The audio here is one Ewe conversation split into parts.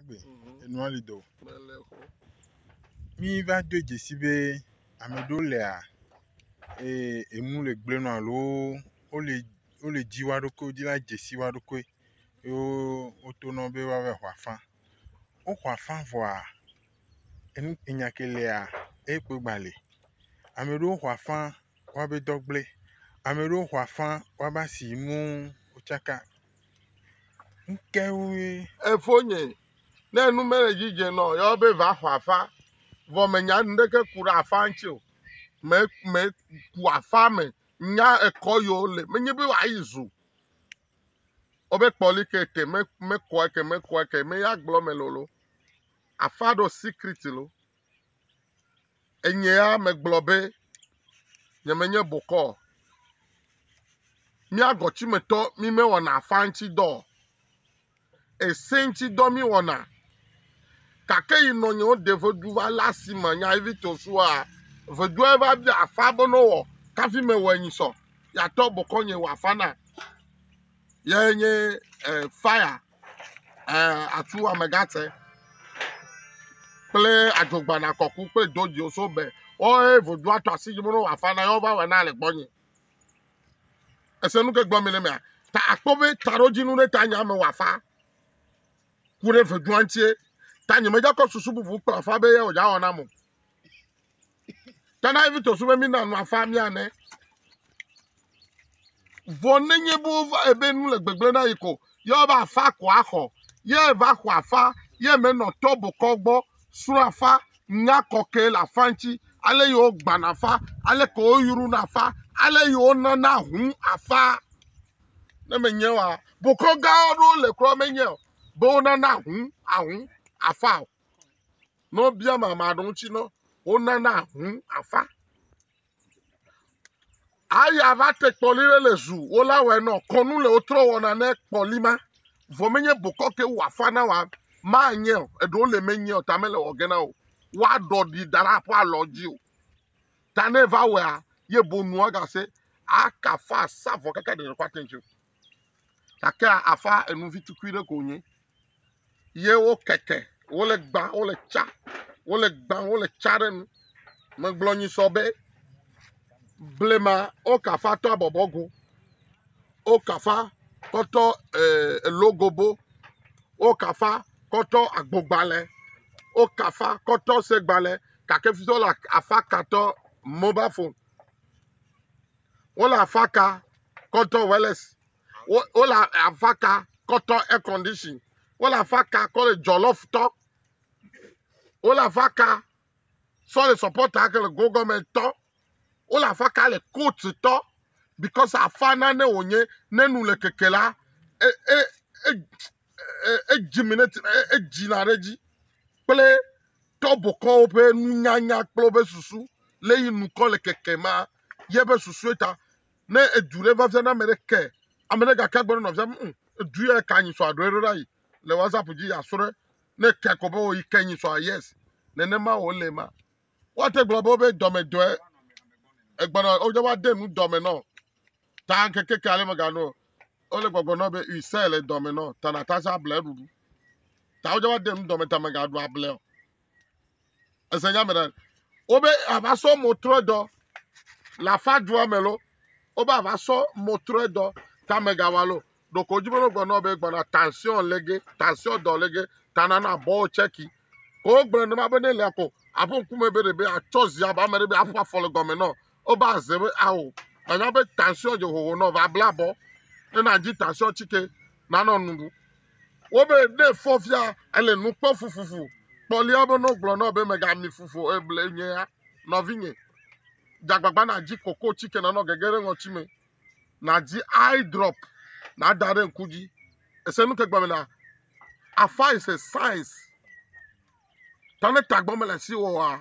Agbe, mhm. enua li do. Mi va do dzesi be ame ɖewo lea ee enu le gblẽ nɔ alo wole wole dzi wa ɖokui wodzi la dzesi wa ɖokui ye woto nɔ be woava ƒo afã. Woƒo afã vɔa enu enya ke lea ekpɔ gba li. Ame ɖewo ƒo afã woabe dɔ gblẽ. Ame ɖewo ƒo afã woabe asi nu tsaka. ŋkeŋue. Efonye, ne nu mele edzi dze nɔ, yɔwo be va xɔ afa. Vɔ menya nuɖeke ku ɖe afa ŋuti o. Me me ku afa me nya ekɔ yi wo le. Menye be woa yi zu. Wobe kpɔ li ke te me me kɔ eke me kɔ eke me ya gblɔ me lolo. Afa ɖo sikrit lo. Enyea megblɔ be, Nyemenye bokɔ o. Mía gɔtsimetɔ mi mewɔna afã ŋuti dɔ o. Ese ŋuti dɔ mi wɔna. Gake yi nɔ nyewo de vedu va lé asi me nya yi vito sua, vedua va bia afã be ne wɔ kafi mewɔe nyi sɔ. Yatɔ bokɔ nye wɔ afã na. ye nye e fire e atu amegatse kple adzogbana kɔku kple dodziwo so be wɔe vodu ato asi dzi mɔɖo wòafa na ye wova wɔna le gbɔnye ese nu ke gblɔm mi le mea ta akpɔ be taɖodzinu ɖe ta nye ame wòafa ku ɖe vedua ŋutie ta nyemedzakɔ susu bubu kpla fa be ye wòdza wɔ nam o Tana evi to sume mi na nu afa mi ane. Vɔ nenye bo va ebe nu le gbegble na yi ko. Ye va afa ko axɔ. Ye va xɔ afa. Ye me nɔ tɔ bokɔ gbɔ. Srɔ afa. Nya kɔkɛ le afa ŋci. Ale yo gbana afa. Ale ko yo yuru na afa. Ale yo nana hun afa. Ne me nye wa. Bokɔ gawo ɖo le kura me nye. Bo nana hun ahun afa. Ne wobia ame ame aɖewo ŋuti no, wonana ŋu afa. Aya va te kpɔli ɖe le zu, wola wɔe nɔ kɔnu le wotrɔ wɔna ne kpɔli ma. Vɔ menye bokɔ ke wɔ afa na wa ma nye o. Eɖewo le menye o, ta mele wɔ ge na o. Wa ɖɔ ɖi da ɖe aƒe alɔ dzi o. Ta ne va wɔa, ye bo nua gase, aka fa sa vɔ kaka ɖe ɖe kɔ ate ŋu. gake aƒea enu vi tukui ɖe ko wonye ye wo keke wole gbã wole tsa wole gbã wole tsa ɖe nu. Megblɔ nyi sɔ be blema wo kafa tɔ abɔbɔ go wo kafa kɔtɔ e elogobo wo kafa kɔtɔ agbogbalɛ wo kafa kɔtɔ segbalɛ gake fi tɔ wole afa katɔ mobafon. Wole afaka kɔtɔ wireless. Wo wole afaka kɔtɔ air condition. Wole afaka kɔle jollof tɔ. Wole afaka sɔle support ake le go government tɔ. Wole afaka le court tɔ because afa nane wònye ne nu le keke la e e e e edziminate e edzina ɖe edzi kple tɔbokɔwo ƒe nunyanya kple woƒe susu le yi nukɔ le keke ma. ye ƒe susue ta. Ne edu ɖe va fia na ame ɖe ke, ame ɖe gake agblɔ na nɔvia be, "Hm, edu ya ka nyi sɔ aɖo eɖo ɖa yi le WhatsApp dzi ya srɔ̃ ɖe." Ne ekea kɔ be o yi ke nyi sɔ yes. Nenema wò le ma. Woate gblɔ be wobe dɔmedɔe egbɔna wodze va de nu dɔme nɔ. Ta ŋkeke ke ale megano. Wole gbɔgblɔ nɔ be ui se le dɔme nɔ. Ta na ta sa ble ɖuɖu. Ta wodze va de nu dɔme ta megaɖu able o. ese nya me ɖa wobe ava sɔ mɔtrɔdɔ le afa dua me lo wobe ava sɔ mɔtrɔdɔ tame gawa lo ɖoko wodzi be wogblɔ nɔ be gbɔna tension lege tension dɔ lege tana na bɔ tsɛki ko wogblɔ ne ma be ne lea ko aƒe ŋkume be ɖe be atsɔ zi aba me ɖe be aƒe afɔ le gɔme nɔ Woba ze be ao nanya be tansio dze hoho nɔ va bla bɔ ne na dzi tansio tsike na nɔ nuɖu. Wo be ne fɔ fia ele nu kpɔ fufufu kpɔ lia be no gblɔ nɔ be mega mi fufu eble nye ya nɔvi nye. Jagbagba na dzi koko tsike na nɔ gege ɖe ŋɔtsi me. Na dzi eye drop na da ɖe ŋku dzi. Ese nu ke gba me na afa is a science. Ta ne tagbɔ me le si wo wa.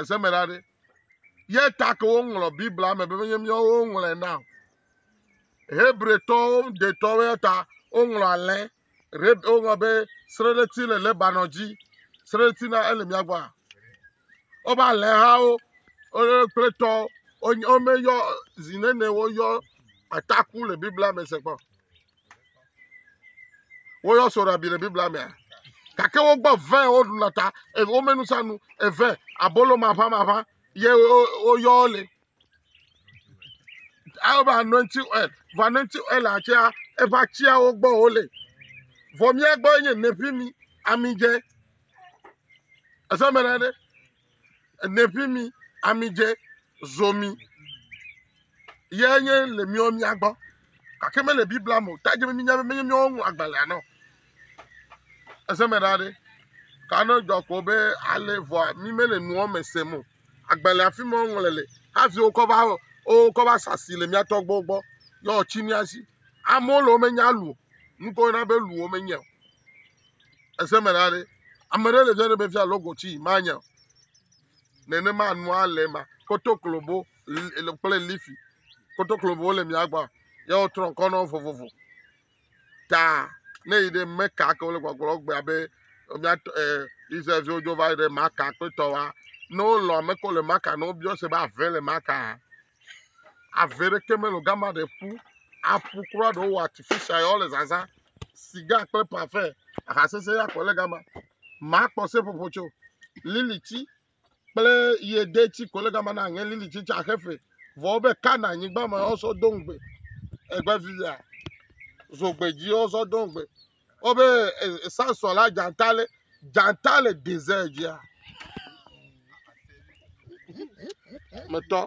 Ese me ɖa ɖe. Ye ta ke woŋlɔ Biblia me be menye míawo woŋlɔe na o. Hebretɔwo detɔwo ya ta woŋlɔ alɛ. Woŋlɔ be sreɖeti le Lebanon dzi. Sreɖeti na ele mía gbɔ. Woƒe alẽhawo kple tɔ womeyɔ zi nene woyɔ ataku le Biblia me se kpɔ. Woyɔ soɖabi le Biblia mea? Gake wogbɔ vɛ woɖu le ta, wome nusanu eve abolo maʋamaʋã ye woyɔ le. Eva anointing oil, vɔ anointing oil atsea eƒe atsiawo gbɔ wole. Vɔ mía gbɔ nye nefimi, ami dze. Ese me ɖe. Eneƒi mi, amidze, zomi ye nye le miwo mia gbɔ. Gake mele Biblia me o. Ta dze be minya be menye miwo ŋlɔ agbalẽa nɔ. Eze me ɖa ɖe. Ta ne dzɔ ko be ale vɔa mi mele nua me sem o. Agbalẽa fi me woŋlɔ le hafi wokɔ va wokɔ va sa asi le mia tɔgbuiwo gbɔ ye woatsi mia si. Amewo le wo menya lu o. Nuke woyɔna be lu wo menyae o. Ese me ɖa ɖe, ame ɖe le fia ɖe be fia logo tsi manya o. Nenema nua le ma, kotoklobo kple lifi. Kotoklobo le mia gbɔ, ya wotrɔ ŋkɔ nɔ vovovo. Ta ne yi ɖe meka ke wole gbɔgblɔ gbe abe mia eh, Israelviwo dzo va yi ɖe maka kpetɔ wa. Ne wolɔ ame ko le maka, ne wobiɔ se be ave le maka, Ave ɖeke mele o. Gama ɖe ƒu. Aƒu kura ɖe wowɔ atifitia ya wole zazã. Siga kple pafɛ. Aha sese ya kɔ le gama. Makpɔ seƒoƒo tso. Lili tsi kple yede tsi kɔ le gama na aŋe lili tsi tsa xe fe. Vɔ wobe kana nyigba me wosɔ do ŋugbe. Egbe vivia. Zogbe dzi wosɔ do ŋugbe. Wo be Samson la dzata le dzata le desert dzia. Metɔ.